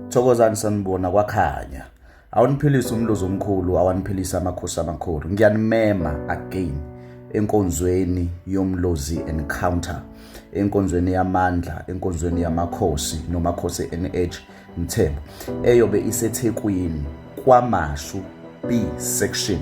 Thokozani sanibona kwakhanya. Awuniphilisa umluzo omkhulu, awaniphilisa amakhosi amakhulu. Ngiyanimema again enkonzweni yomlozi encounter, enkonzweni yamandla, enkonzweni yamakhosi nomakhosi NH Mthembu eyobe iseThekwini kwaMashu B section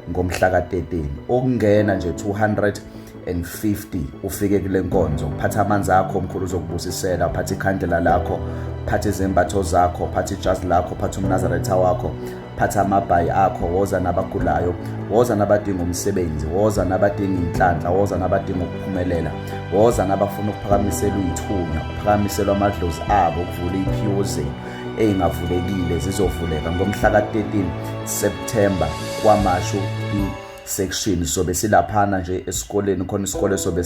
ngomhla ka-13 ukungena nje 250 ufike kule nkonzo uphatha amanzi akho mkhulu uzokubusisela uphatha ikhandela lakho phatha izembatho zakho phatha ijazi lakho phatha umnazaretha wakho phatha amabhayi akho woza nabagulayo woza nabadinga umsebenzi woza nabadinga inhlanhla woza nabadinga ukuphumelela woza nabafuna ukuphakamiselwa iy'thunya ukuphakamiselwa amadlozi abo ukuvula iy'phiwo zenu eyingavulekile zizovuleka ngomhla ka-13 September kwamashu section sobe silaphana nje esikoleni khona isikole sobe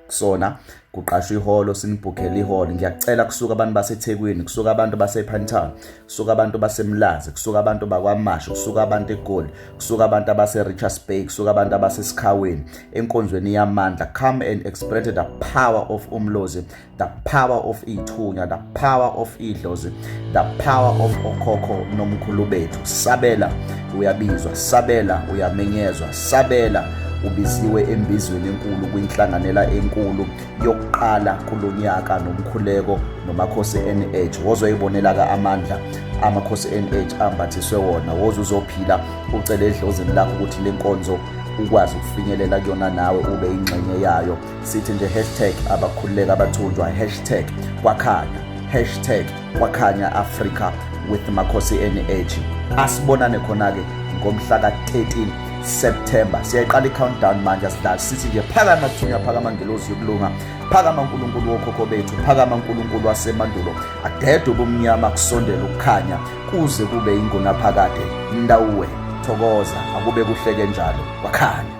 kusona kuqashwa ihholo sinibhukhele ihholo ngiyacela kusuka abantu basethekwini kusuka abantu basephantown kusuka abantu basemlazi kusuka abantu bakwamasho kusuka abantu egoli kusuka abantu abase-richards bay kusuka abantu abasesikhaweni enkonzweni yamandla come and experience the power of umlozi the power of ithunya the power of idlozi the power of okhokho nomkhulu bethu sabela uyabizwa sabela uyamenyezwa sabela ubiziwe embizweni enkulu kwinhlanganela enkulu yokuqala kulonyaka nomkhuleko nomakhosi NH wozoyibonela ka amandla amakhosi NH ambathiswe wona woze uzophila ucele edlozini lakho ukuthi lenkonzo ukwazi ukufinyelela kuyona nawe ube ingxenye yayo sithi nje hashtag abakhululeka abathunjwa hashtag kwakhanya hashtag kwakhanya africa with makhosi nh asibonane khona-ke ngomhla ka-13 september siyayiqala i-countdown manje asidlali sithi nje phakama thunya phakama ngelozi yokulunga phakama nkulunkulu wokhokho bethu phakama nkulunkulu wasemandulo adede ubumnyama kusondela ukukhanya kuze kube ingunaphakade ndawuwe thokoza akube kuhleke njalo kwakhanya